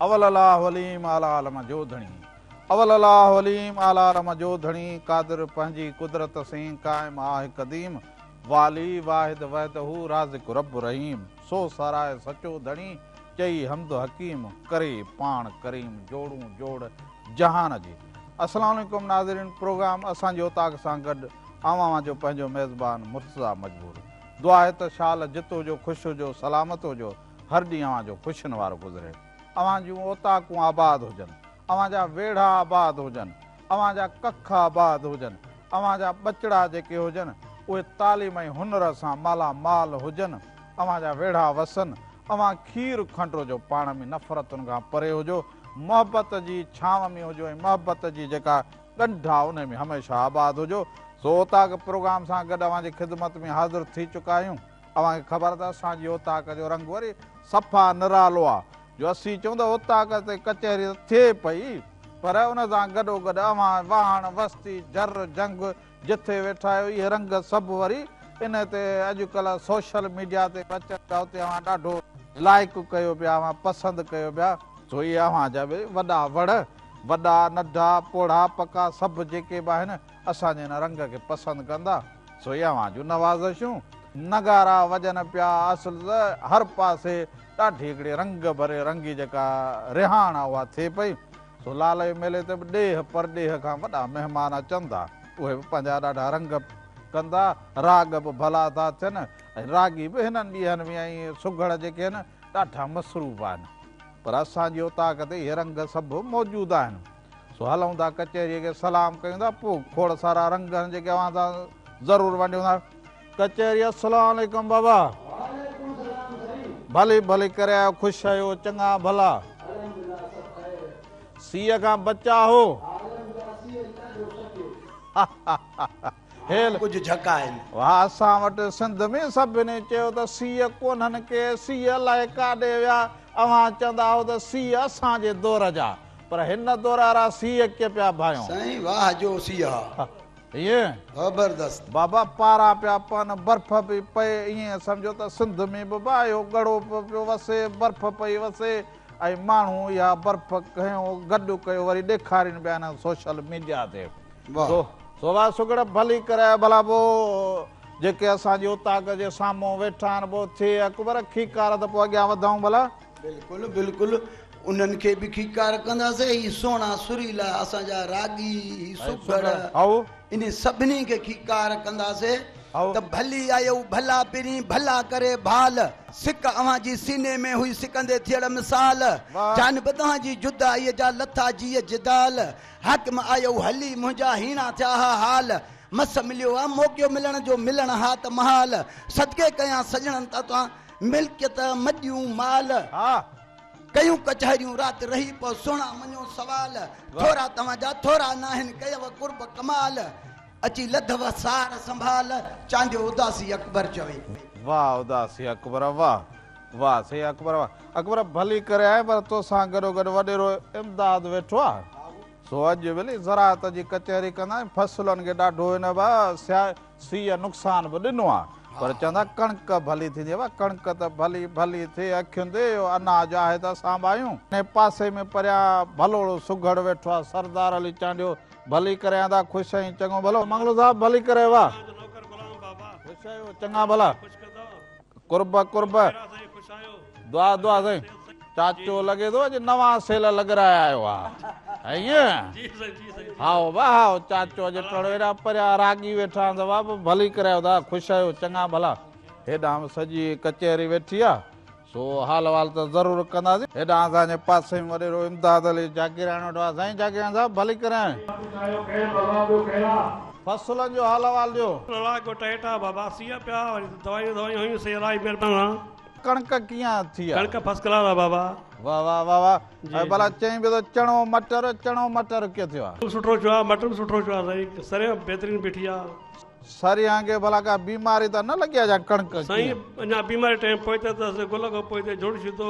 اول الله عليم اعليٰ عالم جو ڌڻي اول الله عليم اعليٰ عالم جو ڌڻي قادر پنهنجي قدرت سين قائم آهه قديم والي واحد وحده رازق رب رحيم سو ساراهه سچو ڌڻي چئي حمد حڪيم ڪري پاڻ ڪريم جوڙون جوڙ جهان جي السلام عليڪم ناظرين پروگرام اسان جي اوطاق سان گڏ آئون اوهان جو پنهنجو ميزبان مرتضيٰ مجبور. دعا آهي ته شال جت هجو، خوش هجو، سلامت هجو، هر ڏينهن اوهان جو خوشين وارو گذري. اوهان جون اوطاقون آباد هجن، اوهان جا ويڙها آباد هجن، اوهان جا ڪک آباد هجن، اوهان جا ٻچڙا جيڪي هجن اهي تعليم ۽ هنر سان مالا مال هجن، اوهان جا ويڙها وسن، اوهان کير کنڊ هجو، پاڻ ۾ نفرتن کان پري هجو، محبت جي ڇانو ۾ هجو ۽ محبت جي جيڪا ڳنڍا انهي ۾ هميشه آباد هجو. سو اوطاق پروگرام سان گڏ اوهان جي خدمت ۾ حاضر ٿي چڪا آهيون. اوهان کي خبر آهي ته اسان جي اوطاق جو رنگ وري صفا نرالو آهي جو اسين چئون ته اوطاق تي ڪچهري ته ٿئي پئي پر ان سان گڏوگڏ اوهان واهڻ وستي جر جهنگ جٿي ويٺا آهيو اهي رنگ سڀ وري ان تي اڄڪلهه سوشل ميڊيا تي به اچن پيا اتي اوهان ڏاڍو لائيڪ ڪيو پيا اوهان پسند ڪيو پيا سو اهي اوهان جا به وڏا وڙ. وڏا، ننڍا، پوڙها، پڪا سڀ جيڪي به آهن اسان جي هن رنگ کي پسند ڪندا سو اهي اوهان جون نوازشون. نغارا وڄن پيا اصل ته هر پاسي ڏاڍي هڪڙي رنگ ڀري رنگي جيڪا رهاڻ آهي اها ٿئي پئي سو لالي ميلي تي به ڏيهه پرڏيهه کان وڏا مهمان اچن ٿا اهي به پنهنجا ڏاڍا رنگ ڪندا راڳ به ڀلا ٿا ٿين ۽ راڳي به هنن ڏينهن ۾ ۽ سگهڙ جيڪي آهن ڏاڍا مصروف آهن. پر اسان جي اوطاق تي اهي رنگ سڀ موجود آهن. سو هلون ٿا ڪچهريء کي سلام ڪيون ٿا، پوء کوڙ سارا رنگ آهن جيڪي اوهان سان ضرور ونڊيون ٿا. ڪچهري، السلام عليڪم بابا. وعليڪم السلام سائين. ڀلي ڀلي ڪري آيو، خوش آهيو، چڱا ڀلا. الحمدلله سڀ خير. سيء کان بچاء هو. عالم جا سيء نه ڏيو سڪي. ها ها ها ها. هيل ڪجهه جهڪ آهن. واه اسان وٽ سنڌ ۾ سڀني چيو ته سيء ڪونهن ڪي سيء الائي ڪاڏي ويا اوهان چوندا هئو ته سيء اسان جي دور جا پر هن دور وارا سيء ڪي پيا ڀايون. سائين واه جو سيء ها. ايئن. ڀبردست. بابا پارا پيا پون برف پئي پئي ايئن سمجهو ته سنڌ ۾ به اهو ڳڙهو پيو وسي برف پئي وسي. ۽ ماڻهو اها برف کنيو گڏ ڪيو وري ڏيکارين پيا هن سوشل ميڊيا تي سو واهه سگهڙ ڀلي ڪري ڀلا پو جيڪي اسان جي اوطاق جي سامهون ويٺا آهن پو ٿئي اڪبر کيڪار ته پو اڳيان وڌائون ڀلا بلڪل بلڪل انهن کي به کيڪار ڪنداسين هي سهڻا سريلا اسان جا راڳي هي سگهڙ هائو انهن سڀني کي کيڪار ڪنداسي ته ڀلي آيو ڀلا پرين ڀلا ڪري ڀال سڪ اوهان جي سيني ۾ هئي سڪندي ٿيڙ مثال جان به توهان جي جدائي جا لٿا جيء جدال حاڪم آيو هلي منهنجا هيڻا ٿيا ها حال مس مليو آ موقعو ملڻ جو ملڻ ها ته محال صدقي ڪيان سڄڻن تان ملڪيت مڄيون مال ڪيون ڪچهريون رات رهي پئو سهڻا مڃو سوال ٿورا توهان جا ٿورا ناهن ڪيو قرب ڪمال اچي لڌو سار سنڀال چانڊيو اداسي اڪبر چوي. واھ اداسي اڪبر واھ واھ سائين اڪبر واھ اڪبر ڀلي ڪري آئين پر توسان گڏو گڏ وڏيرو امداد ويٺو آ سو اڄ ڀلي زراعت جي ڪچهري ڪندا آهيون فصلن کي ڏاڍو هن سيا سيء نقصان به ڏنو آ پر چوندا ڪڻڪ ڀلي ٿيندي وا ڪڻڪ ته ڀلي ڀلي ٿئي اکين تي اهو اناج آهي ته اسان به آهيون انهي پاسي ۾ پريان ڀلوڙو سگهڙ ويٺو آ سردار علي چانڊيو ڀلي ڪري آندا خوش آهين چڱو ڀلو منگلو صاحب ڀلي ڪري وا خوش آهيو چڱا ڀلا قرب قرب دعا دعا سائين چاچو لڳي ٿو اڄ نوان سيل لڳرايا آيو آهي ائين هائو وا هائو چاچو اڄ ٽڙو ايڏا پريا راڳي ويٺا آهن ته بابا ڀلي ڪرايو دا خوش آهيو چڱا ڀلا هيڏانهن به سڄي ڪچهري ويٺي آهي سو حال وال ته ضرور ڪنداسين هيڏانهن اسان جي پاسي ۾ وڏيرو امداد علي جاگيراڻي وٽ آهي سائين جاگيراڻي صاحب ڀلي ڪرايو فصلن جو حال احوال ڏيو. لاء ڪو ٽهيٽا بابا سيء پيا وري ته دوائيون دوائيون هيون سي الائي مهربان. ڪڻڪ ڪيئن اٿي آ. ڪڻڪ فسٽ ڪلاس آ بابا. واھ واھ واھ واھ ۽ ڀلا چئين به ٿو چڻو مٽر چڻو مٽر ڪيئن ٿيو آ. سٺو ٿيو آ مٽر به سٺو ٿيو آ سائين سريان بهترين بيٺي آ. سريان کي ڀلا ڪا بيماري ته نه لڳي آ جا ڪڻڪ ڪيئن. سائين اڃا بيماري ٽائم پوئتي اٿس گل کان پوئتي جوڻ شيدو.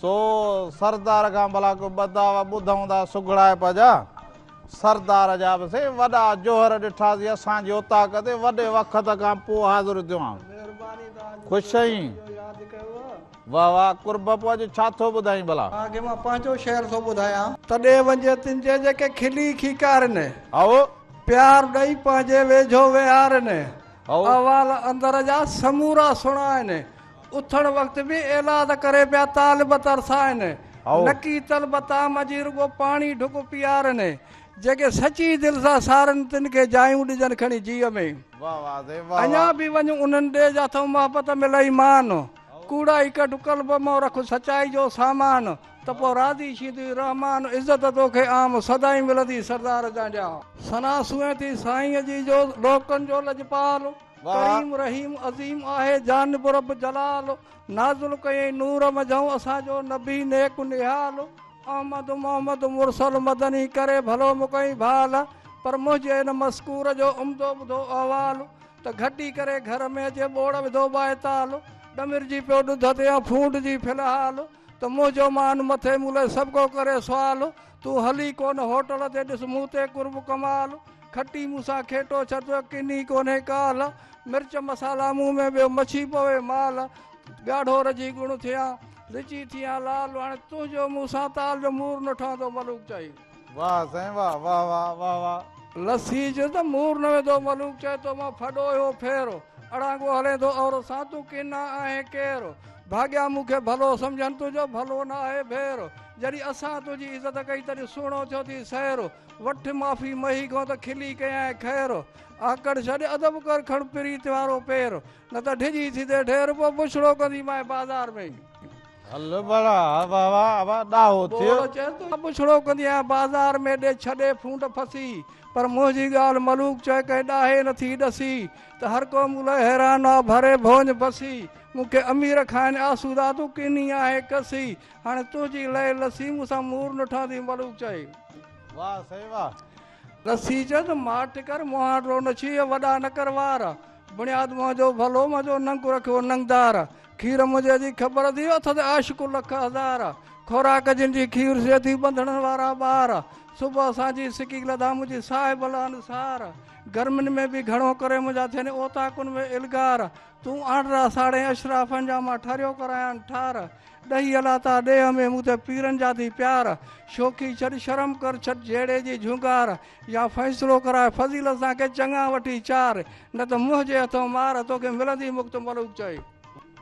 سو سردار کان ڀلا ڪو ٻه دعويٰ ٻڌئون ٿا سگهڙائپ جا. سردار جا به سائين وڏا جوهر ڏٺاسين اسان جي اوطاق تي وڏي وقت کان پوء حاضر ٿيو آهن. خوش آهين؟ واهه واهه قرب پوء اڄ ڇا ٿو ٻڌائين ڀلا؟ مان کي مان پنهنجو شعر ٿو ٻڌايان. تڏي وڃي تن جي جيڪي کلي کيڪارين. هائو! پيار ڏئي پنهنجي ويجهو ويهارين. هائو! احوال اندر جا سمورا سڻائين. اٿڻ وقت به ايلاز ڪري پيا طالب ترسائن، نڪي طلب طعام جي رڳو پاڻي ڍڪ پيارن، جيڪي سچي دل سان سارن تن کي جايون ڏجن کڻي جيء ۾، اڃا به وڃ انهن ڏي جا ٿئون محبت ملئي مان، ڪوڙائي ڪڍ قلب مئو رک سچائي جو سامان، ته پوء راضي ڇيندوئي رحمان، عزت توکي عام سدائين ملندي سردار جانجا. ثنا سونهين ٿي سائينء جي جو لوڪن جو لڄپال. واه. ڪريم رحيم عظيم آهي جانب رب جلال نازل ڪيئين نور منجهئون اسان جو نبي نيڪ و نهال احمد محمد مرسل مدني ڪري ڀلو مڪئين ڀال پر منهنجي هن مذڪور جو عمدو ٻڌو احوال ته گهٽي ڪري گهر ۾ اچي ٻوڙ وڌو ٻائيتال ڏمرجي پيو ڏڌ تي يا ڦونڊجي في الحال ته منهنجو مان مٿي مون لئه سڀڪو ڪري سوال تون هل ئي ڪونه هوٽل تي ڏس مون تي قرب ڪمال کٽي مون سان کيٽو ڇڏ ته ڪني ڪونهي ڪال مرچ مصالا مون ۾ ٻيو مڇي پوي مال ڳاڙهو رجي ڳڻ ٿيان رچي ٿيان لال هاڻي تنهنجو مون سان تال جو مور نه ٺهندو ملوڪ چائي واهه سائين واهه واهه واهه واهه واهه. لسي جو ته مور نه ويندو ملوڪ چائي تو مان ڦڏو اهو ڦير اڙانگو هلين ٿو عورت سان تون ڪنا آهين ڪير ڀاڳيان مون کي ڀلو سمجهن تنهنجو ڀلو نه آهي ڀير جڏهن اسان تنهنجي عزت ڪئي تڏهن سهڻو ٿيو ٿي سير وٺ معافي مهي کان ته کلي ڪيائين خير آڪڙ ڇڏ ادب ڪر کڻ پريت وارو پير نه ته ڊڄي ٿيندي ڍير پوء بڇڙو ڪندي مانء بازار ۾ هل ڀلا واهه واهه ڏاهو ٿيو ٻوڙ چئي ٿو ته بڇڙو ڪندي آهيان بازار ۾ ڏي ڇڏي ڦونڊ ڦسي پر منهنجي ڳالهه ملوڪ چئي ڪنهن ڏاهي نه ٿي ڏسي ته هر ڪو مون لاء حيران آ ڀري ڀونج بسي مون کي امير کائن آسودا تون ڪني آهين ڪسي هاڻي تنهنجي لئي لسي مون سان مور نٺان ٿي ملوڪ چئي. واهه سئي واهه. لسي چيس ماٺ ڪر مهان ڊو نه ڇيهه وڏا نه ڪر وار بڻياد مهان جو ڀلو مهان جو ننگ رکيو ننگدار کير منهنجي جي خبر ٿي اٿس عاشق لک هزار خوراڪ جن جي کير سي ٿي ٻنڌڻن وارا ٻار صبح سانجهي سڪي لڌا منهنجي صاحب الانصار گرمين ۾ به گهڻو ڪري منهنجا ٿين اوطاقن ۾ الغار تون آنڊرا ساڙهين اشرافن جا مان ٺريو ڪرايان ٺار ڏهي الاتا ڏيهه ۾ مون تي پيرن جا ٿي پيار شوخي ڇڏ شرم ڪر ڇڏ جهيڙي جي جهونگار يا فيصلو ڪرائي فضيلت سان ڪي چڱا وٺي چار نه ته منهن جي هٿون مار توکي ملندي مڪت ملوڪ چئي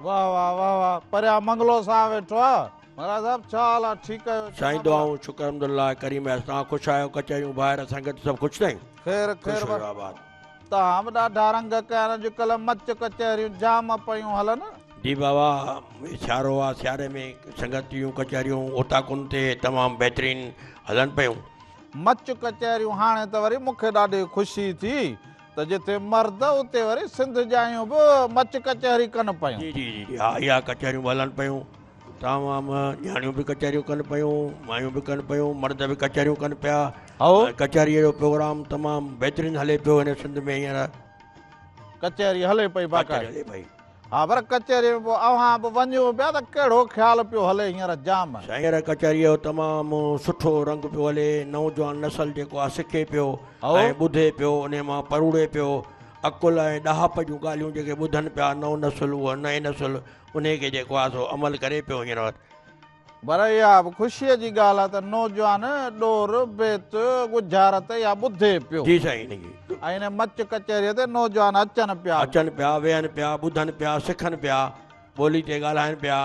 واهه واهه واهه واهه پريا منگلو سان ويٺو آ مهاراج صاحب ڇا حال آ ٺيڪ آهيو سائين دعائون شڪر الحمدلله ڪريم اياز توهان خوش آهيو ڪچهريون ڀائر سنگت سڀ خوش تائين خير خير تاهم ڏاڍا رنگ ڪين اڄڪلهه مچ ڪچهريون جام پيون هلن. جي بابا سيارو آ سياري ۾ سنگت جون ڪچهريون اوطاقن تي تمام بهترين هلن پيون. مچ ڪچهريون هاڻي ته وري مون کي ڏاڍي خوشي ٿي ته جتي مرد اتي وري سنڌ ڄايون به مچ ڪچهري ڪن پيون. جي جي جي ها اها ڪچهريون به هلن پيون. اتان وهان ۾ نياڻيون به ڪچهريون ڪن پيون، مايون به ڪن پيون، مرد به ڪچهريون ڪن پيا. هائو. ۽ ڪچهريء جو پروگرام تمام بهترين هلي پيو هن سنڌ ۾ هينئر. ڪچهري هلي پئي ڪچهري باقاعدي. هلي پئي. ها پر ڪچهريء ۾ پوء اوهان به وڃو پيا ته ڪهڙو خيال پيو هلي هينئر جام. سائين هينئر ڪچهريء جو تمام سٺو رنگ پيو هلي، نوجوان نسل جيڪو آهي سکي پيو هائو. ۽ ٻڌي پيو، انهيء مان پروڙي پيو. عقل ۽ ڏاهپ جون ڳالهيون جيڪي ٻڌن پيا نئون نسل اهو نئين نسل. انهيء کي جيڪو آهي سو عمل ڪري پيو هينئر وقت. پر اها به خوشيء جي ڳالهه آهي ته نوجوان ڏور بيت ڳجهارت يا ٻڌي پيو. جي سائين جي. ۽ هن مچ ڪچهريء تي نوجوان اچن پيا. اچن پيا، ويهن پيا، ٻڌن پيا، سکن پيا، ٻولي تي ڳالهائن پيا.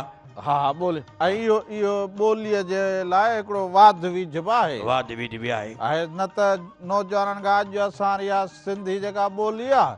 ها ها ٻولي ۽ اهو اهو ٻوليء جي لاء هڪڙو واڌ ويجهه به آهي. واڌ ويجهه به آهي. آهي نه ته نوجوانن کان اڄ اسان ري اها سنڌي جيڪا ٻولي آهي.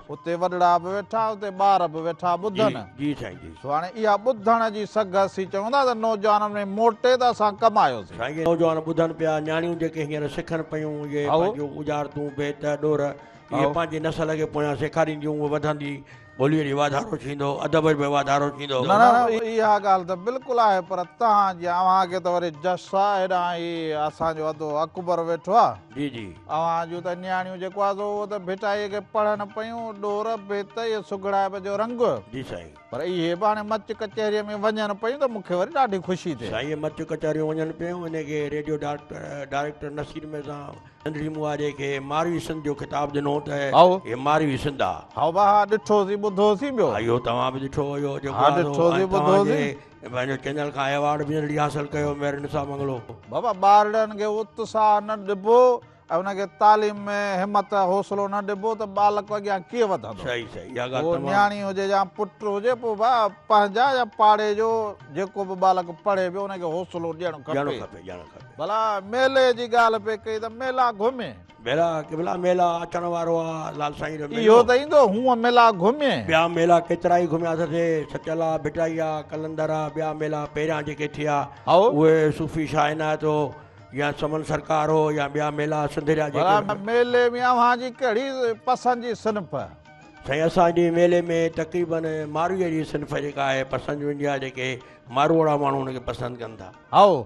اتي وڏڙا به ويٺا اتي ٻار به ويٺا ٻڌن. جي سائين جي. سو هاڻي اها ٻڌڻ جي سگهه اسين چيون ٿا ته نوجوانن ۾ موٽي ته اسان ڪم آيوسين. سائين جي نوجوان ٻڌن پيا نياڻيون جيڪي هينئر سکن پيون اهي پنهنجون اجارتون بيت ڏور اهي پنهنجي نسل کي پويان سيکارينديون اهي وڌندي ٻوليء ۾ واڌارو ٿيندو ادب ۾ واڌارو ٿيندو. نه نه اها ڳالهه ته بلڪل آهي پر تهان جي اوهان کي ته وري جس آهي هيڏانهن هي اسان جو ادو اڪبر ويٺو آهي. جي جي. اوهان جون ته نياڻيون جيڪو آهي سو اهو ته ڀٽائيء کي پڙهن پيون، ڏور، ڀت، ۽ سگهڙائپ جو رنگ. جي سائين. پر اهي به هاڻي مچ ڪچهريء ۾ وڃن پيون ته مون کي وري ڏاڍي خوشي ٿئي. سائين مچ ڪچهريون وڃن پيون انهيء کي ريڊيو ڊائريڪٽر نصير ميرزا سنڌڙي مون آري کي ماروي سنڌ جو خطاب ڏنو ته هائو. هي ماروي سنڌ آ. هائو با ها ڏٺوسين ٻڌوسين ٻيو. ها اهو توهان به ڏٺو هو اهو جيڪو آهي سو ها ڏٺوسين ٻڌوسين. پنهنجو چينل کان ايوارڊ به ارڙي حاصل ڪيو مير نثار منگلو. بابا ٻارڙن کي اتساهه نه ڏبو ۽ انهن کي تعليم ۾ همت حوصلو نه ڏبو ته ٻالڪ اڳيان ڪيئن وڌندو. صحيح صحيح اها ڳالهه تمام. نياڻي هجي يا پٽ هجي پوء ڀا پنهنجا يا پاڙي جو جيڪو به ٻالڪ پڙهي پيو ان کي حوصلو ڏيڻ کپي. ڏيڻ کپي ڏيڻ کپي. ڀلا ميلي جي ڳالهه پئي ڪئي ته ميلا گهمي. ميلا قبلا ميلا اچڻ وارو آ لال سائين جو ميلو اهو ته ايندو هونء ميلا گهمي ٻيا ميلا ڪيترائي گهميا سي سچل آ ڀٽائي آ قلندر آ ٻيا ميلا پهريان جيڪي ٿيا اهي صوفي شاهه عنايت هو يا سمن سرڪار هو يا ٻيا ميلا سنڌريا جيڪي ڀلا ميلي ۾ اوهان جي ڪهڙي پسند جي صنف سائين اسان جي ميلي ۾ تقريبن ماروئي جي صنف جيڪا آهي پسند ويندي آهي جيڪي ماروئڙا ماڻهو ان کي پسند ڪن ٿا هائو،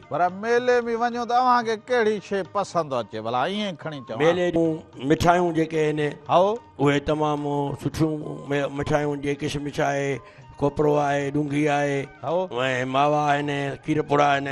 پر ميلي ۾ وڃون ته اوهان کي ڪهڙي شيء پسند اچي ڀلا ائين کڻي چوان. ميلي جون مٺايون جيڪي آهن. هائو. اهي تمام سٺيون مٺايون جي ڪشمش آهي، کوپرو آهي، ڏونگهي آهي. هائو. ۽ ماوا آهن، کير پوڙا آهن.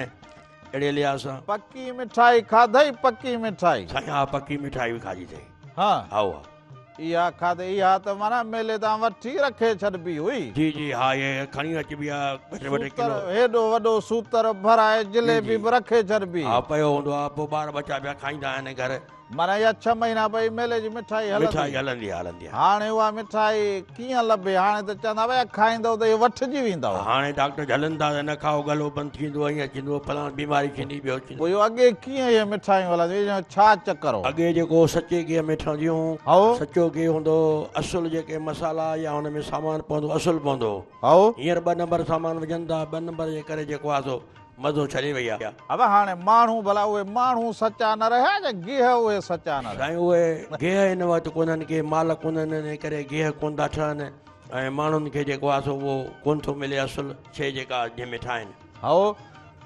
اهڙي لحاظ سان. پڪي مٺائي کاڌئي پڪي مٺائي. سائين ها پڪي مٺائي به کاڌي اٿئي. ها. هائو. اها کاڌي اها ته معنيٰ ميلي تان وٺي رکي ڇڏبي هئي. جي جي ها اهي کڻي اچبي آهي ٻه ٽي ٻه ٽي سوتر، ڪلو. هيڏو وڏو سوتر ڀرائي جي جليبي جي. به رکي ڇڏبي. ها پيو هوندو آهي پوء ٻار ٻچا پيا کائيندا آهن گهر. معنيٰ اها ڇهه مهينا پئي ميلي جي مٺائي هلندي. مٺائي هلندي آهي هلندي آهي. هاڻي اها مٺائي ڪيئن لڀي هاڻي ته چوندا ڀيا کائيندؤ ته اهي وٺجي ويندؤ. هاڻي ڊاڪٽر جهلن ٿا ته نه کائو ڳلو بند ٿي ويندو ائين ٿيندو فلاڻ بيماري ٿيندي ٻيو. پوء يو اڳي ڪيئن اهي مٺايون هلنديون هيون ڇا چڪر هو. اڳي جيڪو سچي گيهه ۾ ٺهنديون هو. سچو گيهه هوندو هو اصل جيڪي مسالا يا هن ۾ سامان پوندو اصل پوندو هو. هينئر ٻه نمبر سامان وجهن ٿا ٻه نمبر جي ڪري جيڪو آهي سو مزو ڇڏي وئي آهي. هو هاڻي ماڻهو ڀلا اهي ماڻهو سچا نه رهيا جا گيهه اهي سچا نه رهيا. سائين اهي گيهه هن وقت ڪونهن ڪي مال ڪونهن انهي ڪري گيهه ڪون ٿا ٺهن ۽ ماڻهن کي جيڪو آهي سو اهو ڪون ٿو ملي اصل شي جيڪا جنهن ۾ ٺاهن. هائو،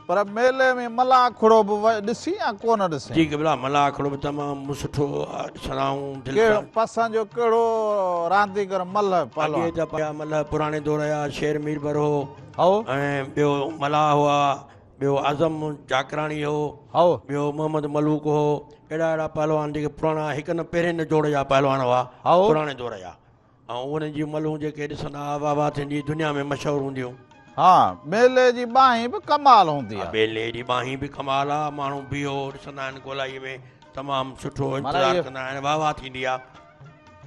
پر ميلي ۾ ملاح کڙو به ڏسين يا ڪو نه ڏسين؟ جي قبلا، ملاح کڙو به تمام سٺو سرهائون دل ڪيڙهو ٿا. پسند جو ڪيڙهو رانديگر ملهه پهلوان. اڳي ته پهيا ملهه پراڻي دور جا شير ميربر هو هائو. ۽ ٻيو ملاح هئا، ٻيو اعظم جاکراڻي هو، هائو. ٻيو محمد ملوڪ هو، اهڙا اهڙا پهلوان جيڪي پراڻا هڪ نه پهرين نه جوڙ جا پهلوان هئا هائو. پراڻي دور جا. ۽ انهن جون ملهون جيڪي ڏسندا ها واهه واهه ٿيندي دنيا ۾ مشهور هونديون. ها ٻيلي جي ٻانهين به ڪمال هوندي آهي. ها ٻيلي جي ٻانهين به ڪمال آهي ماڻهو بيهو ڏسندا آهن گولائي ۾ تمام سٺو انتظار ڪندا آهن واهه واهه ٿيندي آهي.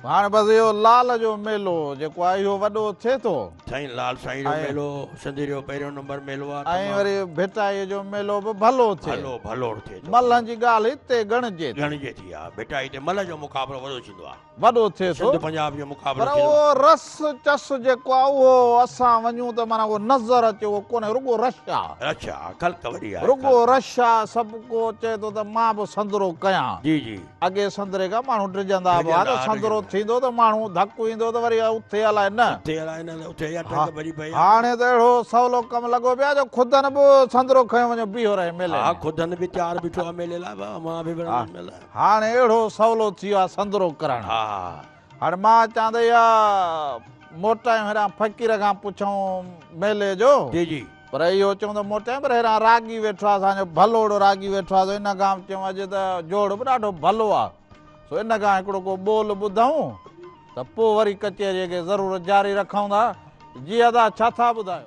هاڻي بس اهو لال جو ميلو جيڪو آهي اهو وڏو ٿئي ٿو. سائين لال سائين جو ميلو سنڌ جو پهريون نمبر ميلو آهي. ۽ وري ڀٽائي جو ميلو به ڀلو ٿئي. ڀلو ڀلوڙ ٿئي ٿو. ملهن جي ڳالهه هتي ڳڻجي ٿي. ڳڻجي ٿي ها ڀٽائي تي ملهه جو مقابلو وڏو ٿيندو آهي. وڏو ٿئي ٿو. سنڌ پنجاب جو مقابلو پر اهو رس چس جيڪو آهي اهو اسان وڃون ته معنيٰ اهو نظر اچي اهو ڪونهي رڳو رش آهي. رش آهي خلق وڏي آهي. رڳو رش آهي سڀ ڪو چئي ٿو ته مان به سندرو ڪيان. جي جي. اڳي سندري کان ماڻهو ڊڄندا به ها ته سندرو ٿيندو ته ماڻهو ڌڪ ايندو ته وري اٿي الائي نه. اٿي الائي نه ته اٿي اها ٽنگ ڀڄي پئي ها. هاڻي ته اهڙو سولو ڪم لڳو پيو آهي جو خدن به سندرو کنيو وڃو بيهو رهي ميلي ۾. ها خدن به تيار بيٺو آهي ميلي لاء مان به وڃان ميلي. هاڻ اهڙو سولو ٿي ويو آهي سندرو ڪرڻ. هاڻ مان اچان ته اها موٽايون هيران فقير کان پڇون ميلي جو. جي جي. پر اهو چون ته موٽايون پر هيران راڳي ويٺو آهي اسان جو ڀلوڙو راڳي ويٺو آهي سو ان کان به چيون اڄ ته جوڙ به ڏاڍو ڀلو آهي سو ان کان هڪڙو ڪو ٻول ٻڌئون ته پوء وري ڪچهريء کي ضرور جاري رکئون ٿا. جي ادا ڇا ٿا ٻڌايو.